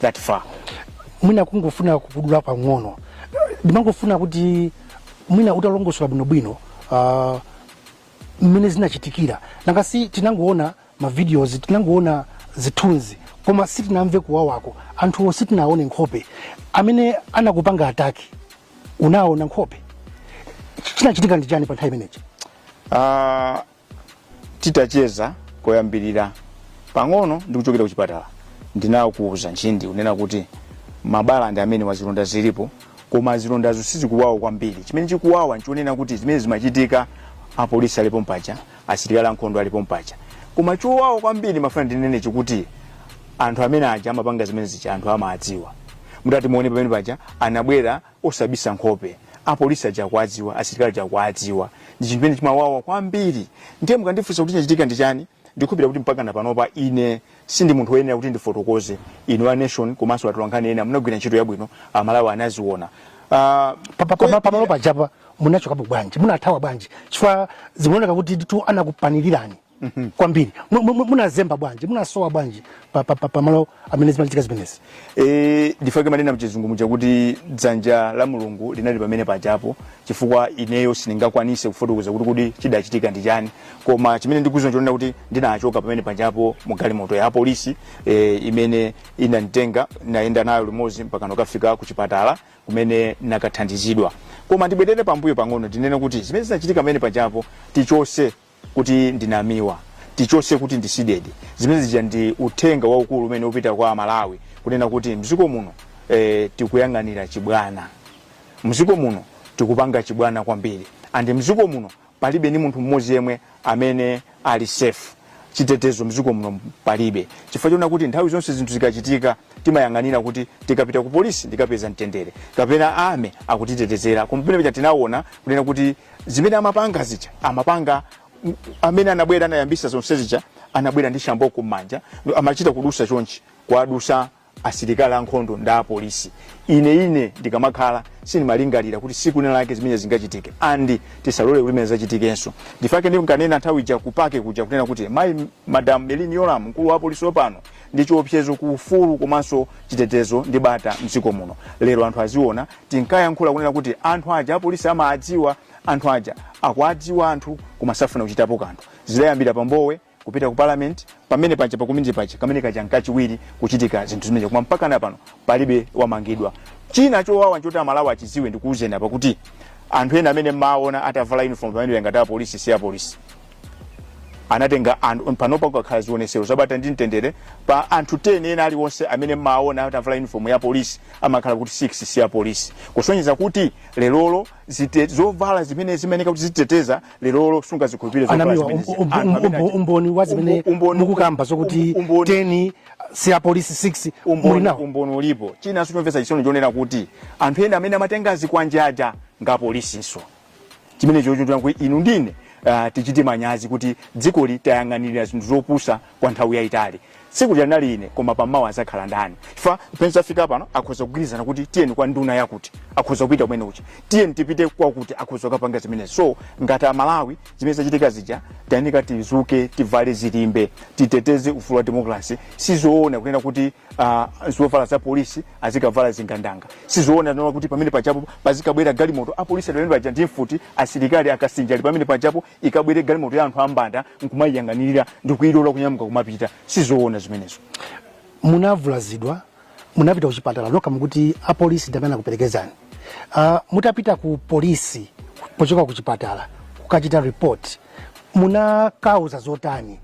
that far mwina kungofuna kukudula pang'ono ndimangofuna kuti mwina utalongosola bwinobwino uh, mmene zinachitikira nanga si tinangoona mavideos tinangoona zithunzi koma sitinamve kuwawako anthuwo sitinaone nkhope amene anakupanga ataki unaona nkhope chinachitika ndi chani pa nthawi imeneyi uh, titacheza koyambirira pang'ono ndi kuchokera kuchipatala ndinakuuza mchindunji kunena kuti mabala ngakhale zilonda zilipo koma zilondazo sizikuwawa kwambiri chimene chikuwawa nchonena kuti zimene zimachitika apolisi ali pompaja asilikali ankhondo ali pompaja koma chowawa kwambiri ndimafuna ndinene nchakuti anthu amene aja amapanga zimene zija anthu amawadziwa mutati muone pamene paja anabwera osabisa nkhope apolisi aja akuwadziwa asilikali aja akuwadziwa ndi chinthu chimene chimawawa kwambiri ndiye mukandifunsa kuti chinachitika ndi chani ndikhulupirira kuti mpaka napanopa ine sindi munthu woyenera kuti ndifotokoze inu a nation komanso atolankhani ena munagwira ntchito yabwino amalawi anaziona Ah, Pa- pa- pa- pamalo pajapa munachokapo bwanji munathawa bwanji chifukwa zimaoneka kutitu anakupanikirirani mm -hmm. kwambiri munazemba bwanji munasowa bwanji pa, pa, pa, pa malo amene zimachitika zimenezi e, ndi chifukwa chake ndimanena mchizungu muja kuti dzanja la mulungu linali pamene pajapo chifukwa ineyo sindingakwanise kufotokoza kuti kuti chidachitika ndi chani koma chimene ndikudziwa nchonena kuti ndinachoka pamene pajapo mu galimoto ya polisi e, imene inanditenga ndayenda nayo limodzi mpaka ndikafika ku chipatala kumene ndinakathandizidwa koma ndibwerere pambuyo pang'ono ndinene kuti zimene zinachitika pamene pajapo tichotse kuti ndi Namiwa tichotse kuti ndi CDEDI zimene zija ndi uthenga waukulu umene ukupita kwa amalawi kunena kuti mziko muno eh, tikuyang'anira chibwana mziko muno tikupanga chibwana kwambiri andi mziko muno palibe ni munthu mmodzi yemwe amene ali safe chitetezo mziko muno palibe chifukwa chonena kuti nthawi zonse zinthu zikachitika timayang'anira kuti tikapita ku polisi tikapeza mtendere kapena army akatitetezera koma pamene paja tinaona kunena kuti zimene amapanga zija amapanga m- amene anabwera anayambisa zonse zija anabwera ndi shamboko m'manja amachita kudutsa chonchi kuwadutsa asilikali ankhondo ndi apolisi ine ine ndikamakhala sindimalingalira kuti tsiku lina lake zimene zingachitike andi tisalole kuti zimenezo zichitikenso ndi chifukwa chake ndinkanena nthawi ija ku park kuja kunena kuti mayi madam Merlyne Yolamu mkulu wa apolisi wapano ndi chiopsezo ku ufulu komanso chitetezo ndi bata mdziko muno lero anthu aziona tinkayankhula kunena kuti anthu aja apolisi amaadziwa anthu aja akuadziwa anthu koma sakufuna kuchitapo kanthu zidayambira pa Mbowe kupita ku parliament pamene paja paku Mini paja kameneka kaja nkachiwiri kuchitika zinthu zimenezo koma mpaka na pano palibe wamangidwa china chowawa nchoti Amalawi achidziwe ndikuuzeni apa kuti anthu ena amene mmaona atavala uniform pamene ngati apolisi si apolisi anatenga anthu panopa kukakhala zionesero zabata ndi mtendere pa anthu 10 ena aliwonse amene maona atavala uniform ya polisi amakhala kuti 6 si ya polisi kusonyeza kuti lerolo zite- zovala zimene zimayenera kuti zititeteza lerolo sungazikhulupirire zovala anamiwa zimene zi- anthu amene achita- umboni wa zimene Umbo- umboni- mukukamba zokuti um- umboni- 10 si ya polisi 6 muli ndi umboni nawo umboni ulipo chinanso chomvetsa chisoni nchonena kuti anthu ena amene amatenga zikwanje aja ndi apolisinso chimenecho choti inu ndi ine uh, tichite manyazi kuti dzikoli tayang'anirira zinthu zopusa kwa nthawi yayitali tsikulo ndinali ine koma pamawa azakhala ndani apa pamene zafika pano akhoza kugwirizana kuti tiyeni kwa nduna yakuti akhoza kupita kunyumba tiyeni tipite kwakuti akhoza kukapanga zimenezi so ngati amalawi zimene zinachitika zija tayenika tidzuke tivale zilimbe titeteze ufulu wa demokrasi sizoona kunena kuti uh, zovala za polisi azikavala zingandanga sizoona kunena kuti pamenepaja pazikabwera galimoto apolisi ali pamenepaja ndi mfuti asilikali akasinja ali pamenepaja ikabwere galimoto ya anthu ambanda nkumayiyang'anirira ndi kuyilola kunyamuka kumapita sizoona zimenezo munavulazidwa munapita kuchipatala nokha mukuti apolisi ndi amene anakuperekezani uh, mutapita ku polisi pochoka kuchipatala kukachita report munakauza zotani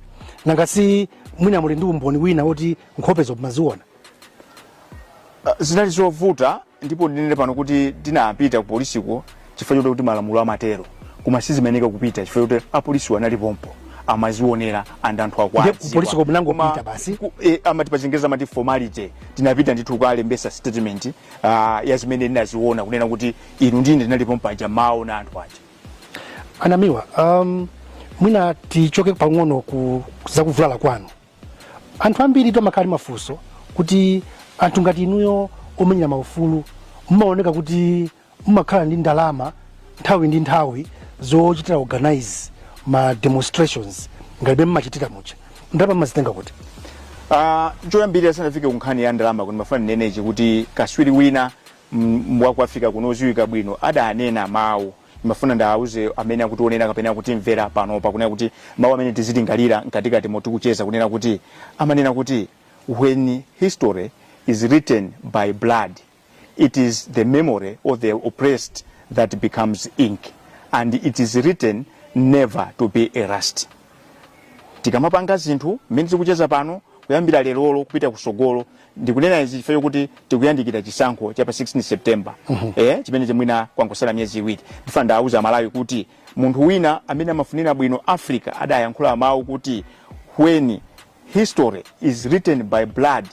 nanga si mwina muli ndi umboni wina woti nkhopezo mumaziona Ah, zinali zovuta ndipo ndinene pano kuti tinapita ku polisiko chifukwa choti kuti malamulo amatero koma sizimayeneka kupita chifukwa choti apolisiwo anali pompo amazionera and anthu akwa Ndiye ku polisiko munangopita basi? e, amati pachingerezi amati formality tinapita ndithu kukalembesa statement uh, ya zimene ndinaziona kunena kuti ineyo ndinali pompo ndimawaona anthu aja anamiwa um, mwina tichoke pang'ono ku zakuvulala kwanu anthu ambiri amakhala ndi mafunso kuti anthu ngati inuyo omenyera maufulu mumaoneka kuti mumakhala ndi ndalama nthawi ndi nthawi zochitira organize ma demonstrations ngati mmene mumachitira muja ndalama mumazitenga kuti Ah, choyambirira tisanafike kunkhani ya ndalama ndimafuna ndinenechi kuti kaswiri wina mm, wa ku africa kuno odziwika bwino adanena mawu Ndimafuna ndiauze amene akutionera kapena kutimvera panopa kunena kuti mawu amene tizilingalira mkatikati momwe tikucheza kunena kuti amanena kuti when history is written by blood it is the memory of the oppressed that becomes ink and it is written never to be erased. tikamapanga zinthu mmene tikucheza pano kuyambira lerolo kupita kusogolo ndikunena izi chifukwa chokuti tikuyandikira chisankho cha pa 16 september eh, chimene chimwina kwangosala miyezi iwiri ndifuna ndiwauze amalawi kuti munthu wina amene amafunira bwino africa adayankhula mawu kuti when history is written by blood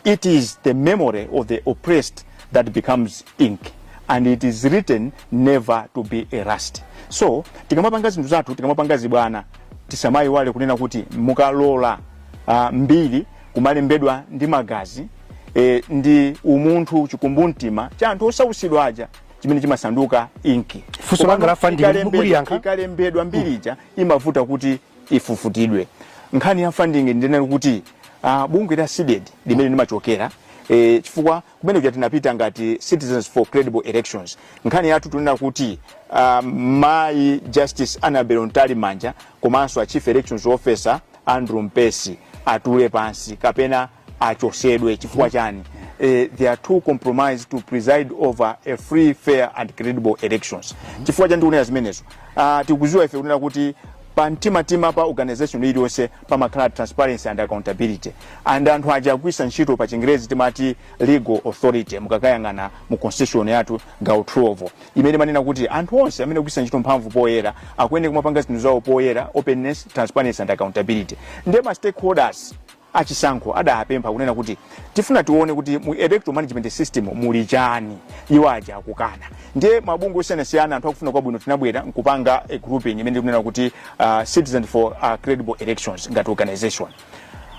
It is the memory of the oppressed that becomes ink and it is written never to be erased. So tikamapanga zinthu zathu tikamapanga zibwana tisamayiwale kunena kuti mukalola uh, mbiri kumalembedwa ndi magazi eh, ndi umunthu chikumbumtima cha anthu osautsidwa aja chimene chimasanduka inki Funso langa Komano la funding ikalembedwa- muliyankha? ikalembedwa mbiri ija imavuta kuti ifufutidwe nkhani ya funding ndinena kuti uh, bungwe la CDEDI limene ndimachokera eh, chifukwa kumene kuja tinapita ngati citizens for credible elections nkhani yathu tunena kuti uh, mayi justice annabel mtalimanja komanso a chief elections officer andrew mpesi atule pansi kapena achotsedwe chifukwa chani eh, they are too compromised to preside over a free fair and credible elections chifukwa chani tikunena zimenezo uh, tikuziwa ife kunena kuti pa mtimatima pa organization iliyonse pamakhala transparency and accountability and anthu aja agwiritsa ntchito pa chingerezi timati legal authority mukakayang'ana mu constitution yathu gawo 12 imene imanena kuti anthu onse amene agwiritsa ntchito mphamvu poyera akuyenera kumapanga zinthu zawo poyera openness transparency and accountability nde ma stakeholders a Chisankho adapempha kunena kuti tifuna tione kuti mu electoral management system muli chani, iwo aja akukana. Ndiye mabungwe osiyanasiyana anthu akufuna kwabwino tinabwera nkupanga a grouping imene tikunena kuti uh, Citizens for uh, Credible Elections ngati organizer.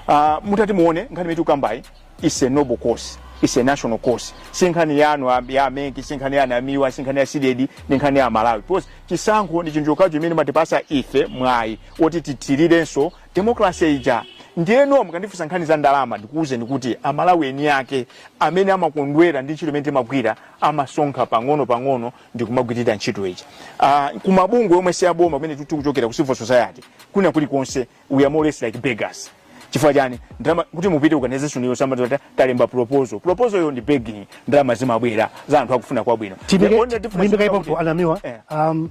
Uh, mutati muone nkhani imene tikukambayi is a noble cause is a national cause si nkhani yanu a- ya a MEC si nkhani ya Namiwa si nkhani ya CDEDI ndi nkhani ya malawi because chisankho ndi chinthu chokhacho chimene chimatipatsa ife mwayi woti tithirirenso democracy ija ndiyeno mukandifunsa nkhani za ndalama ndikuwuzeni kuti amalawi eni ake amene amakondwera ndi ntchito imene timagwira amasonkha pang'ono pang'ono ndikumagwirira ntchito ija uh, kumabungwe omwe si aboma kumene tikuchokera ku civil society kwina kulikonse we are more or less like beggars chifukwa chani ndalama kuti mu operate organization iyo timati talemba proposal proposal yo ndi begging ndalama zimabwera za anthu akufuna kwabwino The only difference- Imbikani pompo a Namiwa. Eh. Um,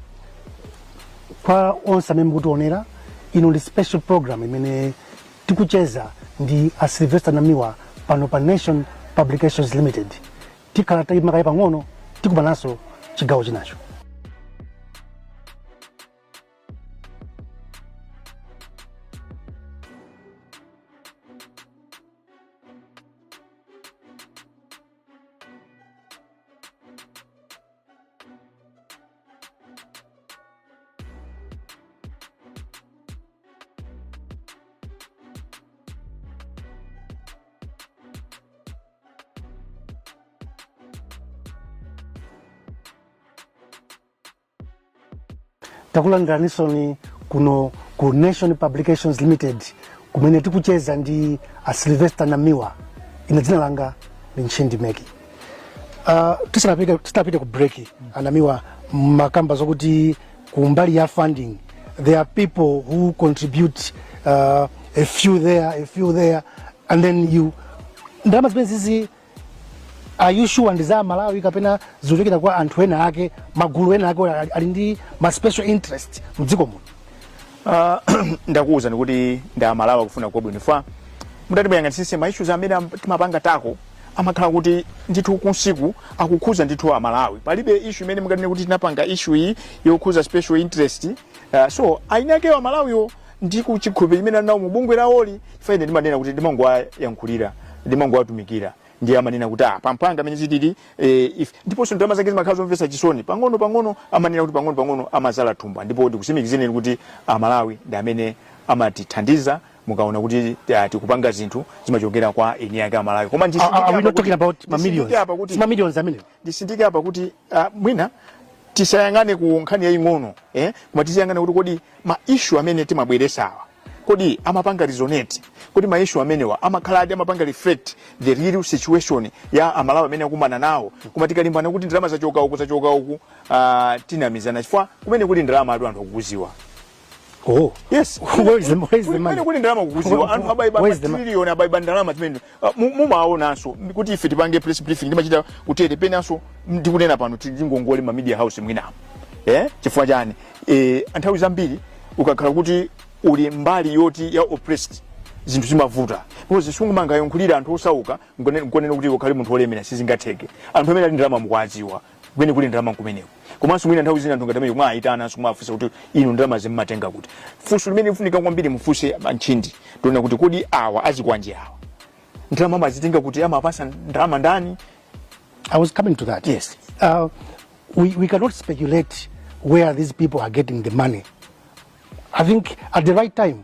kwa onse amene mukutionera ino ndi special program imene tikucheza ndi a sylvester namiwa pano pa nation publications limited tikhala tayima kaye pang'ono tikupezaninso chigawo chinacho takulandiranisoni kuno ku nation publications limited kumene tikucheza ndi a sylvester namiwa ine dzina langa ndi ntchindi meki Uh, tisanapite tisanapite ku break anamiwa mwakamba zokuti kumbali ya funding there are people who contribute uh, a few there a few there and then you ndalama zimene zizi are you sure ndi za amalawi kapena zikuchokera kwa anthu ena ake magulu ena ake ali- ali ndi ma special interest mdziko muno Ah, ndakuwuzani kuti ndi amalawi akufuna kwabwino if mutati muyang'anisise ma issues amene am- timapanga tako amakhala kuti ndithu kunsiku akukhuza ndithu amalawi palibe issue imene mungatine kuti tinapanga issue iyi yokhuza special interest uh, so ayinakeyo amalawiwo ndi chikhulupiriro chimene alinawo mu bungwe lawoli ife ine ndimanena kuti ndimangowayankhulira ndimangowatumikira ndiye amanena kuti ah pangani mmene zilili eh, if ndiponso ndalama zake zimakhala zomvetsa chisoni pang'ono pang'ono amanena kuti pang'ono pang'ono amazaza thumba ndipo ndikusimikizireni kuti amalawi ndi amene amatithandiza mukaona kuti ah, tikupanga zinthu zimachokera kwa eni yake amalawi koma Are, are we not talking about ma millions? ndisindike apa kuti It's ma millions amene. ndisindike apa kuti ah, mwina tisayang'ane ku nkhani yaying'ono eh? koma tiziyang'ana kuti kodi ma issue amene timabweresawa kodi amapanga resonate kodi ma issue amenewa amakhaladi amapanga reflect the real situation ya amalawi imene akukumana nawo koma tikalimbana kuti ndalama zachoka uku zachoka uku uh, tikunamizana chifukwa kumene kuli ndalamatu anthu akukuziwa Oh, yes. Where is the, where is the money? Kumene kuli ndalama kukuziwa anthu abaiba Where is the money? matrillion abaiba ndalama zimene Ah, mu- mumaonanso kuti ife tipange press briefing timachita kutere penanso ndikunena pano tili ngongole ma media house mwinawo eh chifukwa chani eh nthawi zambiri ukakhala kuti uli mbali yoti ya oppressed zinthu zimavuta because sungumangayankhulira anthu osauka nkunena kuti ukhale munthu olemera sizingatheke anthu amene ali ndi ndalama mukuwadziwa kumene kuli ndalama kumeneko komanso mwina nthawi zina anthu ngati amene mwaayitana simumafunsa kuti inu ndalama mumazitenga kuti funso limene likufunika kwambiri mufunse antchindi tiona kuti kodi awa azikwanje awa ndalama amazitenga kuti amawapasa ndalama ndani I was coming to that. Yes. Uh, we, we cannot speculate where these people are getting the money. I think at the right time,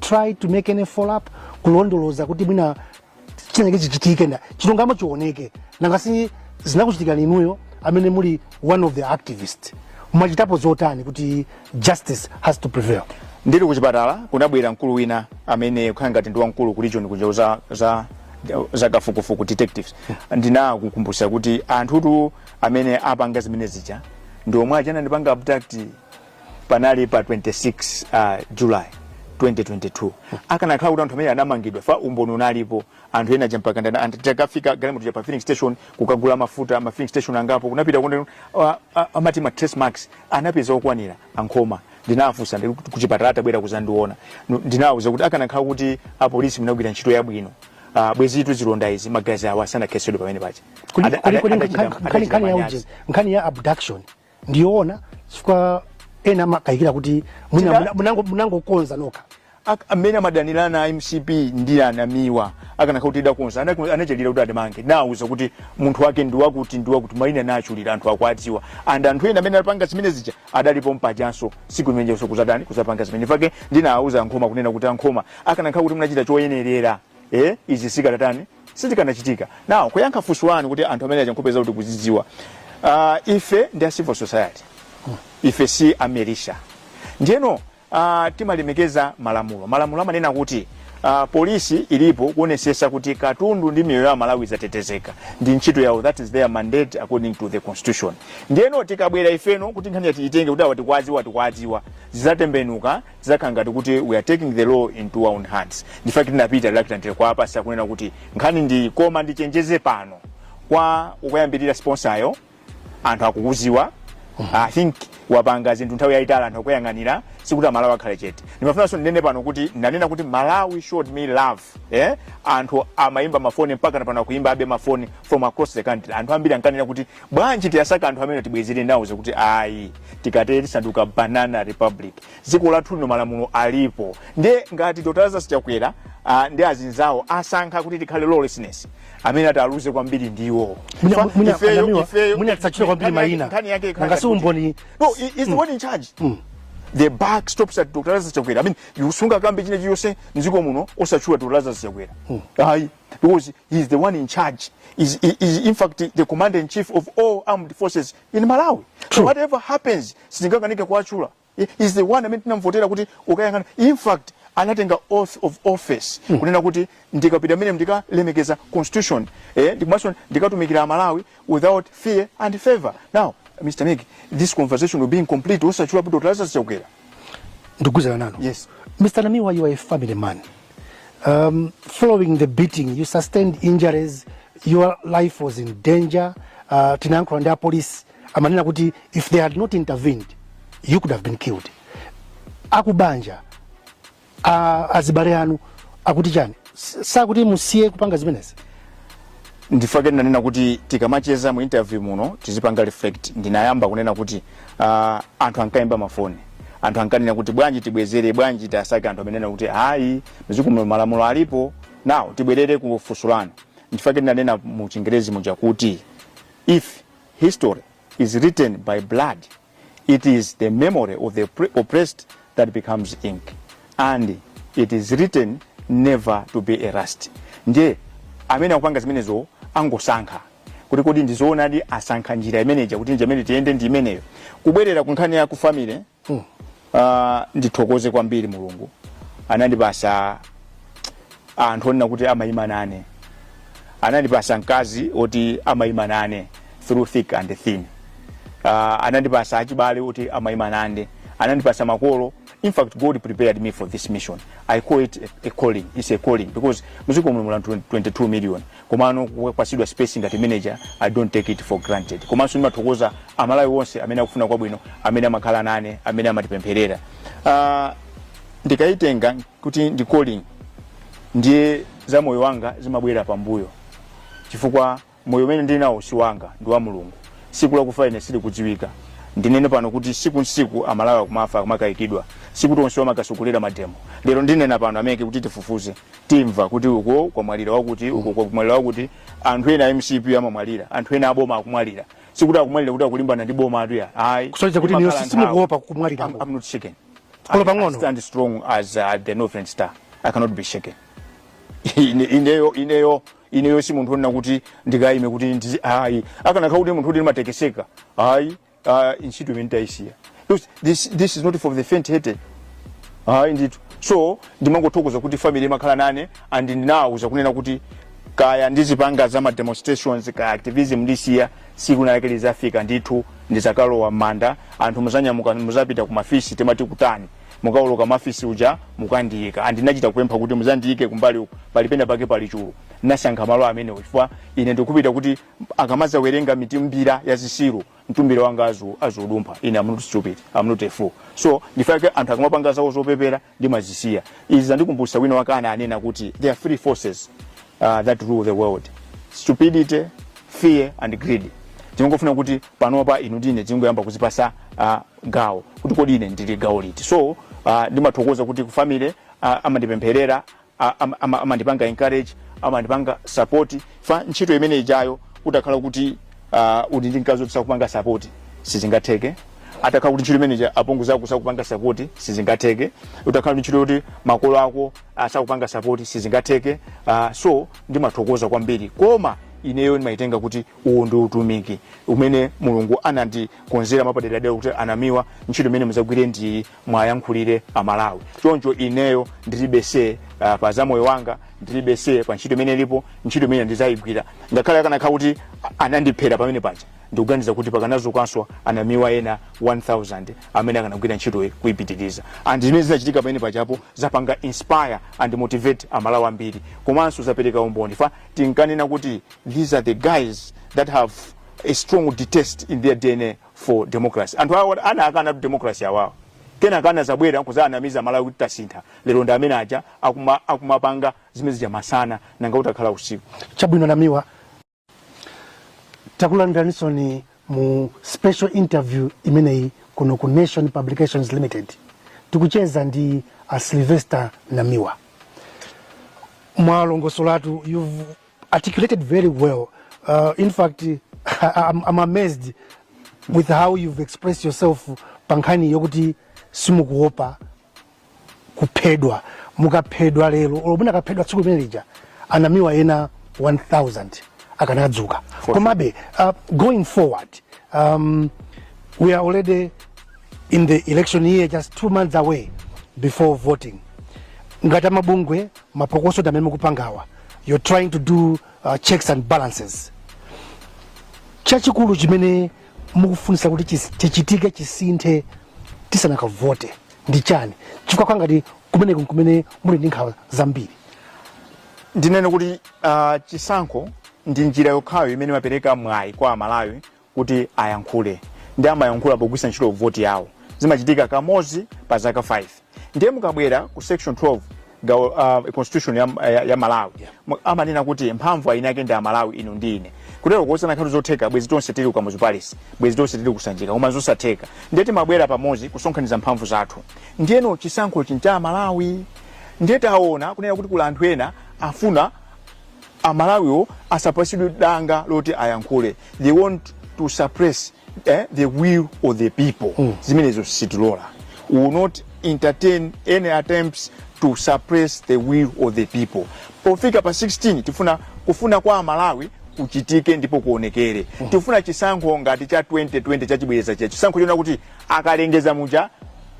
try to make any follow up kulondoloza kuti mwina chinenge chichitike ndi chilungamo chioneke nanga si zinakuchitikani inuyo amene muli one of the activist mwachitapo zotani kuti justice has to prevail ndili kuchipatala kunabwera mkulu wina amene akukhala ngati ndi wamkulu ku region kunja za, za za kafukufuku detectives ndinawakumbutsa kuti anthutu amene apanga zimene zija ndi omwe aja anandipanga abduct panali pa 26 uh, july 2022 akanakhala kuti anthu amene anamangidwa chifukwa umboni unalipo anthu ena mpakana anthu atakafika galimoto cha pa filling station kukagula mafuta ma filling station angapo kunapita ndiye uh, uh, amati ma trace marks anapeza okwanira a Nkhoma ndinafunsa ndili kuti kuchipatala atabwera kuzandiona Nu- ndinawauza kuti akanakhala kuti apolisi munagwira ntchito yabwino uh, bwezitu zilonda izi magazi awa sanakhesedwe pamene paja Kodi- Ada- kodi- ada- kodi adachita- nkhani- adachita nkhani ya manyazi. ujeni, nkhani ya abduction ndiyoona chifukwa ena amakayikira kuti mwina China- muna- munango- munangokonza nokha Ak- amene amadanirana a MCP ndi a Namiwa akanakhala kuti tidakonza Anaku- anachedweranji kuti atimange ndawauza kuti munthu wake ndiwakuti ndiwakuti maina ndatchulira anthu akuwadziwa and anthu ena amene anapanga zimene zija adalipo pajanso tsiku limenenso kuzatani kuzapanga zimene nchifukwa chake ndinawauza a Nkhoma kunena kuti a Nkhoma akanakhala kuti munachita choyenerera eh izi sizikadatani sizikanachitika now kuyankha funso lanu kuti anthu amene aja nkhope zawo tikuzidziwa uh, ife ndi a civil society ife si a militia ndiyeno uh, timalemekeza malamulo malamulo amanena kuti uh, polisi ilipo kuonesesa kuti katundu ndi miyoyo ya amalawi zatetezeka ndi ntchito yawo that is their mandate according to the constitution ndiyeno tikabwera ifeno kuti nkhaniyi tiitenge kuti awa tikuwadziwa tikuwadziwa zizatembenuka zizakhala ngati kuti we are taking the law into our own hands nchifukwa chake tinapita reluctantly kwa apolisi kukanena kuti nkhani ndi iyi koma ndichenjeze pano kwa mkulu yemwe ali sponsor-yo anthu akukudziwa i think wapanga zinthu nthawi yayitali anthu akuyang'ana sikuti amalawi akhale chete ndimafunanso ndinene pano kuti ndanena kuti malawi showed me love eh? anthu amayimba mafoni mpaka pano akuyimbabe mafoni from across the country anthu ambiri ankanena kuti Bwanji tiwasake anthu amenewa tibwezere ndinawauza kuti ayi tikatere tisandutsa banana republic dziko lathu lino malamulo alipo ndiye ngati Dr. Lazarus Chakwera ah, ndi azinzawo asankha kuti tikhale lawlessness amene ataluze kwambiri ndiwo Mwina- Fa- mwina ifeyo- a Namiwa, ifeyo- mwina tisatchule kwambiri nkhani yake- mayina. nkhani yake ikhala Nanga si ngati kuti- umboni- no he- he's the one in charge the buck stops at Dr. Lazarus Chakwera I mean you sungakambe china chilichonse mdziko muno osatchula Dr. Lazarus Chakwera ayi because he is the one in charge is, is, is in fact the commander in chief of all armed forces in malawi so True. whatever happens sitingakanike kuwatchula He is the one amene tinamvotera kuti ukayang'ana in fact anatenga oath of office kunena kuti ndikapita mene ndikalemekeza constitution eh, ndi kumanso ndikatumikira amalawi without fear and favor now mr migi this conversation will be incomplete osachula kuti Dr. Lazarus Chakwera ndikugwizana nanu Yes. mr namiwa you are a family man Um, following the beating, you sustained injuries, your life was in danger. Uh, tinayankhula ndi apolisi amanena kuti if they had not intervened, you could have been killed. Akubanja, uh, azibale anu akuti chani? S- Sakuti musiye kupanga zimenezi. ndifake ndinanena kuti tikamacheza mu interview muno tizipanga reflect ndinayamba kunena kuti uh, anthu ankayimba mafoni anthu ankanena kuti bwanji tibwezere bwanji tiwasake anthu amanena kuti ayi mzikuno malamulo alipo now tibwerere ku funso lanu ndifake ndinanena mu chingerezi muja kuti if history is written by blood it is the memory of the oppre- oppressed that becomes ink and it is written never to be erased ndiye amene akupanga zimenezo angosankha kuti kodi ndizoonadi asankha njira imeneja kuti njira imene tiyende ndi imeneyo kubwerera ku nkhani ya ku family Uh, ndithokoze kwambiri mulungu anandipasa anthu onena kuti amayima nane anandipasa mkazi oti amayima nane through thick and thin uh, anandipasa achibale oti amayima nane anandipasa makolo in fact god prepared me for this mission i call it a, a calling it's a calling because mdziko muno muli anthu 22 million komano kupasidwa space ngati imeneyi i don't take it for granted komanso ndimathokoza amalawi onse amene akufuna kwabwino amene amakhala nane amene amatipempherera uh, ndikayitenga kuti ndi calling ndiye za moyo wanga zimabwera pambuyo chifukwa moyo umene ndili nawo si wanga ndi wa mulungu tsiku lakufa ine silikudziwika ndinene pano kuti tsiku ndi tsiku amalawi akumafa akumakayikidwa sikuti onse amakatsogolera mademo lero ndinena pano ameneno kuti tifufuze timva kuti uko kwamwalira wakuti uko kwamwalira wakuti anthu ena a mcp amamwalira anthu ena aboma akumwalira sikuti akumwalira kuti akulimbana ndi bomatu iyayi kusonyeza kuti Imakhala iyo nthawi. simukuopa I'm, kumwalirako I'm not shaken Olo I- pang'ono. I stand strong as uh, the northern star i cannot be shaken Ine- ineyo ineyo ineyo si munthu onena kuti ndikayime kuti ndizi ayi akanakhala kuti munthu kuti ndimatekeseka ayi Ah, ntchito imeneyi tayisiya Because this, this is not for the faint hearted hayi ndithu so ndimangothokoza kuti family imakhala nane and ndinawuza kunena kuti kaya ndizipanga za ma demonstrations kaya activism ndisiya siku linalake lizafika ndithu ndizakalowa m'manda anthu muzanyamuka muzapita ku mafisi timati kuti mukawoloka mafisi uja mukandiyika and ndinachita kupempha kuti muzandiyike kumbali uku palipenda pake pali chulu nasankha malo amenewo chifukwa ine ndikupita kuti akamazawerenga mitumbira ya zisiru mtumbira wanga azau azaudumpha ine am not stupid am not a fool so ndifake anthu akamapanga zawo zopepera ndimazisiya izi zandikumbutsa wina wake ananena kuti there are three forces uh, that rule the world stupidity fear and greed tingofuna kuti panopa inu ndine tingoyamba kuzipasa uh, gawo kuti kodi ine ndili gawo liti so uh, ndimathokoza kuti ku family uh, amandipempherera a- ama- ama- amandipanga encourage amandipanga support fa ntchito imene ijayo utakhala kuti uh, uli ndi mkazi woti sakupanga support sizingatheke atakhala kuti ntchito imene ija apongozi ako sakupanga support sizingatheke utakhala ndi ntchito yoti makolo ako asakupanga support sizingatheke uh, so ndimathokoza kwambiri koma ineyo ndimayitenga kuti uwu ndi utumiki umene mulungu anandikonzera mapaderadera kuti a Namiwa ntchito imene muzagwire ndi iyi muwayankhulire a Malawi. Choncho ineyo ndilibe say uh, pa za moyo wanga, ndilibe say pa ntchito imene ilipo, ntchito imene ndizayigwira. Ngakhale akanakhala kuti a- anandiphera pamene paja, ndikuganiza kuti pakanazukanso a Namiwa ena 1000 amene akanagwira ntchitoyi kuipitiriza. And zimene zinachitika pamene pajapo zapanga inspire and motivate a Malawi ambiri. Komanso zapereka umboni fa tinkanena kuti these are the guys that have a strong detest in their DNA for democracy anthu awa anaakanatu democracy awawa kenaka anazabwera nkuzaanamiza amalawi kuti tasintha lero ndi amene aja akuma- akumapanga zimene zija masana nanga utakhala usiku chabwino a namiwa takulandiraninsoni mu special interview imeneyi kuno ku nation publications limited tikucheza ndi a sylvester namiwa mwalongosolatu you've articulated very well. Uh, in fact, I'm, I'm amazed with how you've expressed yourself pankhani yokuti simukuopa kuphedwa mukaphedwa lero olo munakaphedwa tsiku limene lija a Namiwa ena 1000 akanadzuka komabe uh, going forward um, we are already in the election year just two months away before voting ngati amabungwe mapokoso amene mukupangawa you're trying to do uh, checks and balances chachikulu chimene mukufunisa kuti chis- chichitike chisinthe tisanakavote ndi chani chifukwa ngati kumeneko nkumene muli ndi nkhawa zambiri ndinene kuti uh, chisankho ndi njira yokhayo imene imapereka mwayi kwa amalawi kuti ayankhule ndi amayankhula pogwiritsa ntchito voti yawo zimachitika kamodzi pa zaka 5 ndiye mukabwera ku section 12 gawo uh, constitution ya, ya, ya malawi mu- amanena kuti mphamvu eni ake ndi amalawi inu ndi ine kutero kuti zikanakhala zotheka bwezi tonse tili ku kamuzu palace bwezi tonse tili ku sanjika koma zosatheka ndiye timabwera pamodzi kusonkhaniza mphamvu zathu ndiyeno chisankho chincha amalawi ndiye taona kunena kuti kuli anthu ena afuna amalawiwo asapasidwe danga loti ayankhule they want to suppress eh, the will of the people mm. zimenezo sitilola we will not entertain any attempts to suppress the will of the people pofika pa 16 tifuna kufuna kwa amalawi kuchitike ndipo kuonekere mm. tifuna chisankho ngati cha 2020 chachibwereza cha chisankho chonena kuti akalengeza muja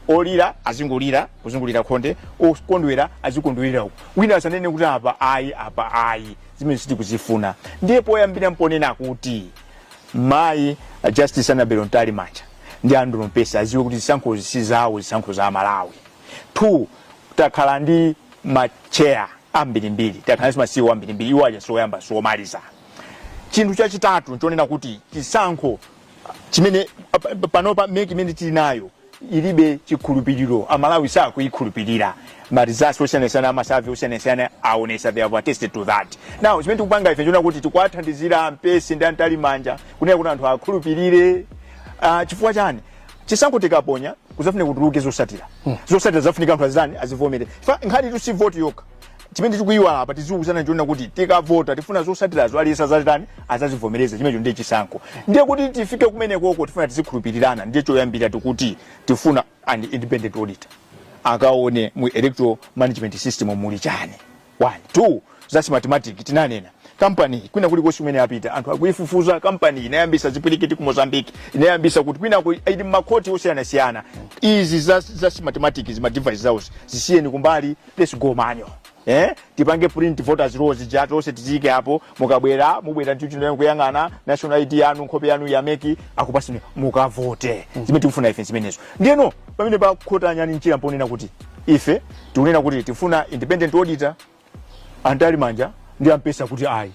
olira azingolira kuzungulira khonde okondwera azikondwerera uku Wina asanene kuti apa ayi apa ayi zimene sitikuzifuna ndiye poyambira mponena kuti mayi a justice annabel mtalimanja ndi andrew mpesi aziwe kuti zisankhozi si zawo zisankho za amalawi two takhala ndi macheya ambirimbiri takhala ndi ma ceo ambirimbiri iwo aja sioyamba siomaliza chinthu chachitatu nchonena kuti chisankho chimene pa- pa- panopa mec imene tili nayo ilibe chikhulupiriro amalawi sakuyikhulupirira ma research osiyanasiyana ma survey osiyanasiyana aonesa they have attested to that now chimene tikupanga ife nchonena kuti tikuwathandizira mpesi ndi a mtalimanja kunena kuti anthu akhulupirire uh, chifukwa chani chisankho tikaponya kuzafunika kutuluke zosatira zosatira zafunika anthu azitani azivomere Fa- nkhanitu si voti yokha chimene tikuyiwala apa tiziwuzana ndichonena kuti tikavota tifuna zosatirazo aliyense azazitani azazivomereza chimenecho ndiye chisankho ndiye kuti tifike kumenekoko tifuna tizikhulupirirana ndiye choyambira tikuti tifuna an independent auditor akaone mu electoral management system muli chani one two za smartmatic tinanena kampani kwina kulikonse kumene apita anthu akuifufuza kampani inayambisa zipwirikiti ku mozambique inayambisa kuti kwina ku- ili mmakhoti osiyanasiyana izi za, za smartmatic ma devices awo zisiyeni kumbali let's go manual eh tipange print voters roll ija tonse ticheke apo mukabwera mubwera ndi chinthu kuyang'ana national id yanu nkhope yanu a mec akupaseni mukavote zimene tikufuna ife zimenezo ndiyeno pamene pakhota nyani mchira mponena kuti ife tikunena kuti tifuna independent auditor a mtalimanja ndi a mpesi kuti ayi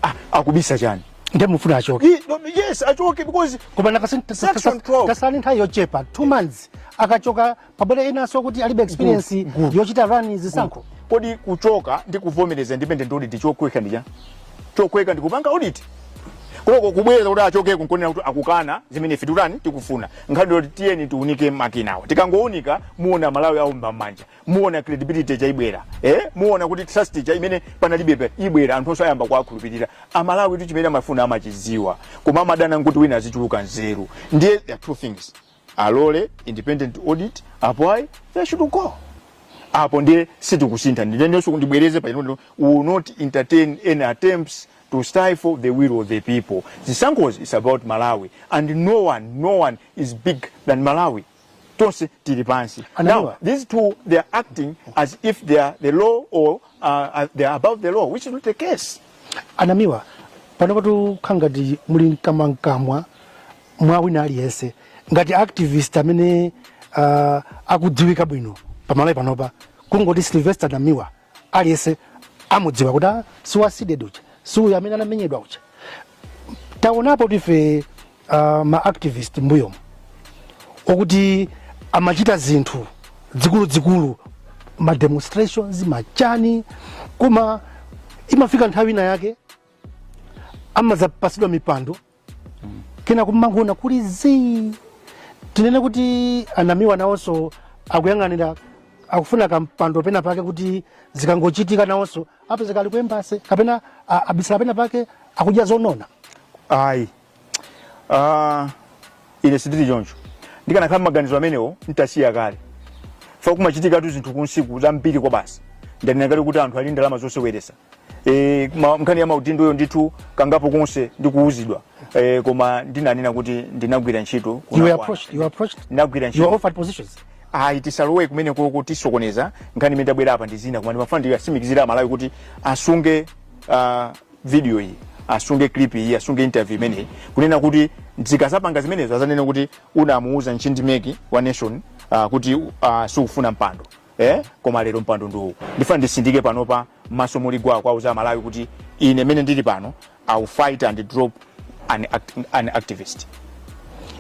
ah, akubisa chani nde mufuna achoke He- no, yes achoke because koma pano kwasala nthawi yochepa two months akachoka pabwere enanso okuti alibe experience yochita run zisankho kodi kuchoka ndi kuvomereza independent audit chokweka ndi chani chokweka ndi kupanga audit koko kubweza kuti achoke kungoonetsa kuti akukana zimene ife tikutani tikufuna nkhani yoti tiyeni tiunike makinawa tikangounika muona malawi awomba m'manja muona credibility cha ibwera eh muona kuti trust cha imene panalibepa ibwera anthu onse ayamba kuwakhulupirira amalawi tu chimene amafuna amachiziwa koma amadana nkuti wina azichuluka nzeru ndiye there are two things alole independent audit apo ayi they should go apo ndiye sitikusintha ndinenenso ndibwereze pano I will not entertain any attempts to stifle the will of the people zisankhozi is about malawi and no one no one is big than malawi tonse tili pansi now these two they are acting as if they are the law or uh, they are above the law which is not the case anamiwa panopatu zikukhala ngati muli mkamwamkamwa mwa wina aliyense ngati activist amene uh, akudziwika bwino pamalawi panopa kungoti sylvester namiwa aliyense akumudziwa kuti ah, si wa cdedi uja si uyo amene anamenyedwa uja taonapo kuti ife uh, ma activist mbuyomu akuti amachita zinthu zikuluzikulu ma demonstrations machani koma imafika nthawi ina yake amadzapatsidwa mipando kena kumangoona kuli zii tinene kuti anamiwa nawonso akuyang'anira akufuna kampando pena pake kuti zikangochitika nawonso apezeka ali ku embassy kapena a- abisala pena pake akudya zonona ayi Ah, ine sindili choncho ndikanakhala mmaganizo amenewo ntasiya kale fa kumachitikatu zinthu kunsiku zambiri kwabasi ndinanena kale kuti anthu ali ndalama zoseweresa e, ma- nkhani ya maudindoyo ndithu kangapo konse ndikuuzidwa e, koma ndinanena kuti ndinagwira ntchito You were kunakwana. approached. You were approached. ndinagwira You were ntchito offered positions. ayi tisalowe kumeneko tisokoneza nkhani imene tabwerera apa ndi zina koma ndimafuna ndiwatsimikizire amalawi kuti asunge uh, video iyi asunge clip iyi asunge interview imeneyi kunena kuti zikazapanga zimenezo azanene kuti unamuuza ntchindi meki wa nation uh, kuti uh, sikufuna mpando ee koma lero mpando ndi uwu ndifuna nditsindike panopa m'maso muli gwa kuwauza amalawi kuti ine mene ndili pano ill fight and drop an, act, an activist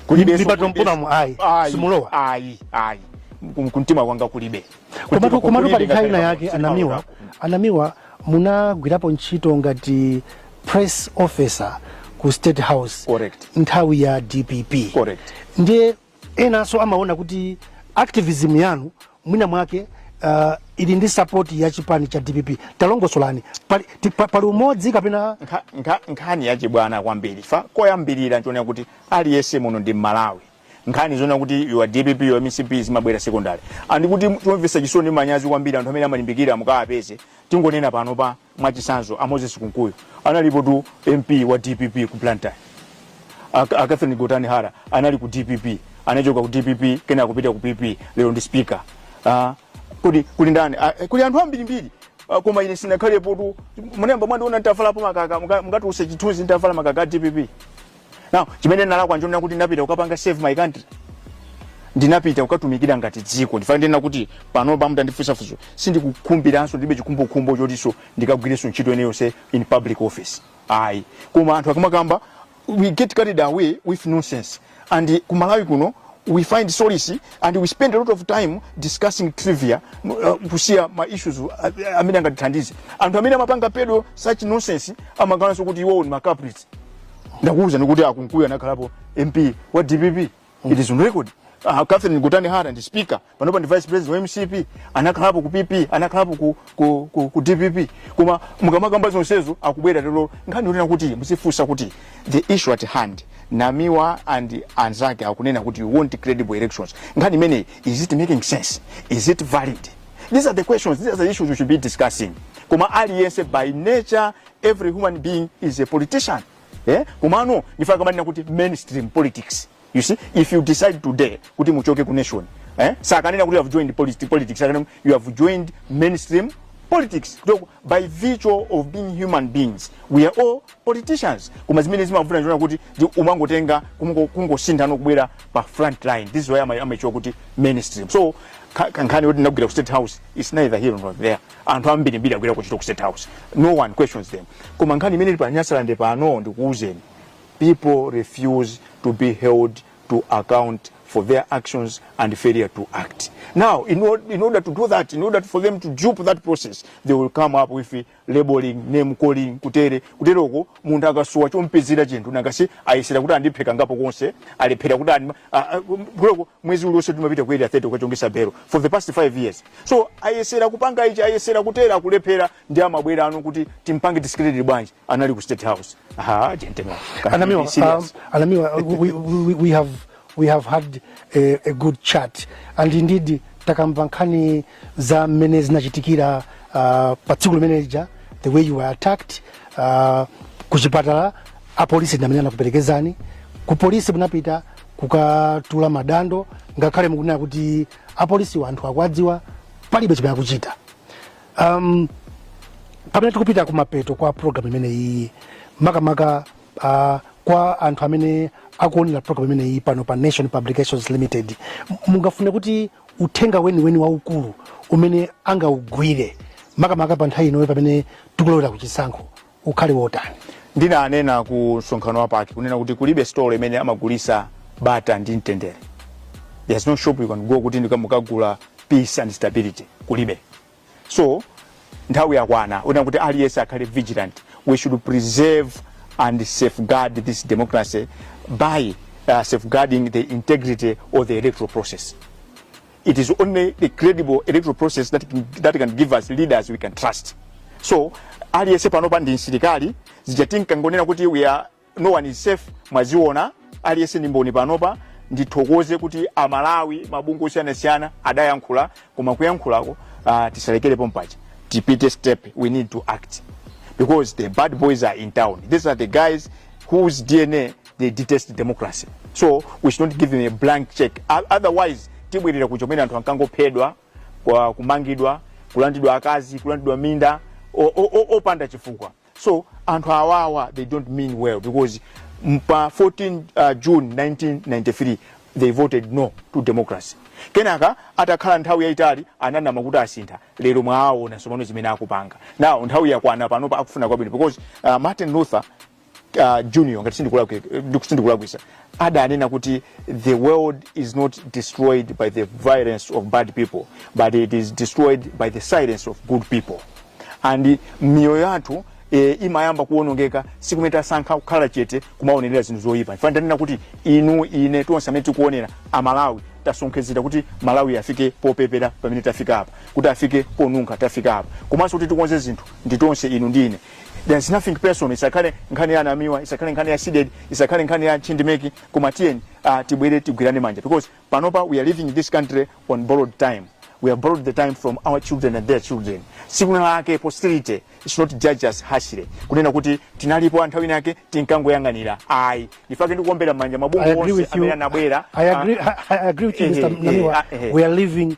Kulibenso- Mipata mukaiona mu- ayi, Ayi, simulowa. ayi ayi Kum- kumtima kwanga kulibe komatu Kumtima komatu kulibe pali nthawi ina ngakhale yake pamtima anamiwa wanga. anamiwa munagwirapo ntchito ngati press officer ku state house Correct. nthawi ya dpp Correct. ndiye enanso amaona kuti activism yanu mwina mwake uh, ili ndi support ya chipani cha dpp talongosolani pali, ti- pa- pali umodzi kapena Nkha- nkha- nkhani yachibwana kwambiri fa koyambirira n'chonena chakuti aliyense muno ndi mmalawi nkhani zonena kuti you are dpp you are mcp zimabwera secondary and kuti chomvetsa chisoni ndi manyazi kwambiri anthu amene amalimbikira mukawapeze tingonena pano pa Mwachitsanzo a Moses Kunkuyu analipotu MP wa dpp ku Blantyre. A, a Catherine Gotani Hara anali ku dpp anachoka ku dpp kenaka kupita ku PP lero ndi speaker. Ah, kodi kuli ndani? Ah, eh, kuli anthu ambirimbiri Ah, koma ine sindinakhalepotu munayamba mwandiona nditavalapo makaka muka- mukatiwuze chithunzi nditavala makaka a dpp. now chimene ndinalakwa nchonena kuti ndinapita kukapanga serve my country ndinapita kukatumikira ngati dziko n'chifukwa chake ndinena kuti panopa mutandifunsa funso sindikukhumbiranso ndibe chikhumbokhumbo chotinso ndikagwirenso ntchito ina iliyonse in public office ayi koma anthu akamakamba we get carried away with nonsense and ku Malawi kuno we find solace and we spend a lot of time discussing trivia uh, kusiya ma issues uh, amene angatithandize anthu amene amapanga peddle such nonsense amaganizanso kuti iwowo ndi ma culprits ndakuwuzani kuti a Kunkuyu anakhalapo mp wa dpp it is on record uh, catherine Gotani hara ndi speaker panopa ndi vice president wa mcp anakhalapo ku pp anakhalapo ku, ku, ku, ku dpp koma mukamakamba zonsezo akubwera lero nkhani yonena kuti muzifunsa kuti the issue at hand namiwa and anzake akunena kuti we want credible elections nkhani imeneyi is it making sense is it valid these are the questions these are the issues we should be discussing koma aliyense by nature every human being is a politician eh? komano n'chifukwa amanena kuti mainstream politics you see if you decide today kuti muchoke ku nation eh? sakunena kuti you have joined politi- politics akunena kuti you have joined mainstream politics so by virtue of being human beings we are all politicians koma zimene zimavuta n'chonena kuti ndi umangotenga kungo- kungosintha n'kubwera pa front line this is why ama- amaitchula kuti mainstream so ka- kankhani yoti ndagwira ku state house is neither here nor there anthu ambirimbiri agwira ntchito ku state house no one questions them koma nkhani imene ili pa Nyasalande pano ndikuwuzeni people refuse to be held to account for their actions and failure to act now in, or, in order to do that in order for them to dupe that process they will come up with labeling name calling kutere kuteroko munthu akasowa chompezera chinthu nangatu si ayesera kuti andiphe kangapokonse alephera kuti andi- a- a- kuteroko mwezi uliwonse timapita ku area 30 kukachongetsa belo for the past 5 years so ayesera kupanga ichi ayesera kutera kulephera ndiye amabwerano kuti timpange discredit bwanji anali ku state house ah gentlemen can we Anamiwa, be serious? um, Anamiwa, we, we, we have we have had a, a good chat and indeed takamva nkhani za mmene zinachitikira uh, pa tsiku limene lija the way you were attacked uh, ku chipatala apolisi ndi amene anakuperekezani ku polisi munapita kukatula madando ngakhale mukunena kuti apolisiwa anthu akuwadziwa palibe chimene akuchita um, pamene tikupita kumapeto kwa program imene iyi makamaka uh, kwa anthu amene akuonera program imene iyi pano pa nation publications limited m- mungafune kuti uthenga weniweni waukulu umene angaugwire makamaka pa nthawi inoyo pamene tikulowera kuchisankho ukhale wotani ndinanena ku msonkhano wa PAC kunena kuti kulibe stolo imene amagulisa bata ndi mtendere there's no shop you can go kuti ndikamukagula peace and stability kulibe so nthawi yakwana una kuti aliyense akhale vigilant we should preserve and safeguard this democracy by uh, safeguarding the integrity of the electoral process it is only the credible electoral process that can, that can give us leaders we can trust so aliyense panopa ndi msilikali zija tinkangonena kuti we are no one is safe mwaziona aliyense ndi mboni panopa ndithokoze kuti amalawi mabungwe osiyanasiyana adayankhula koma kuyankhulako uh, tisalekere pompaja tipite step we need to act because the bad boys are in town these are the guys whose dna they detest democracy so we should not give them a blank check o- otherwise tibwerera kuja kumene anthu ankangophedwa kwa- kumangidwa kulandidwa akazi kulandidwa minda o- o- o- opanda chifukwa so anthu awawa they don't mean well because m- pa 14 uh, june 1993 they voted no to democracy kenaka atakhala nthawi yayitali ananama kuti asintha lero mwaona tsopano zimene akupanga now nthawi yakwana panopa akufuna kwabwino because uh, martin luther uh, junior ngati sindikulakwisa adanena kuti the world is not destroyed by the violence of bad people but it is destroyed by the silence of good people and miyoyo yathu e, imayamba kuonongeka tsiku limene tasankha kukhala chete kumaonerera zinthu zoyipa n'chifukwa ndanena kuti inu ine tonse amene tikuonera amalawi tasonkhezera kuti malawi afike popepera pamene tafika apa kuti afike ponunkha tafika apa komanso kuti tikonze zinthu ndi tonse inu ndi ine there's nothing personal isakhale nkhani ya a Namiwa isakhale nkhani ya CDEDI isakhale nkhani ya chindimeki koma tiyeni uh, tibwere tigwirane manja because panopa we are living in this country on borrowed time we have borrowed the time from our children and their children tsiku lina lake posterity should not judge us harshly kunena kuti tinalipo nthawi ina yake tinkangoyang'anira ayi n'chifukwa chake ndikuombera manja I mabungwe agree onse with you. amene anabwera I agree. ah, I, I agree with you, eh, Mr. eh, Namiwa. ah, eh. We are living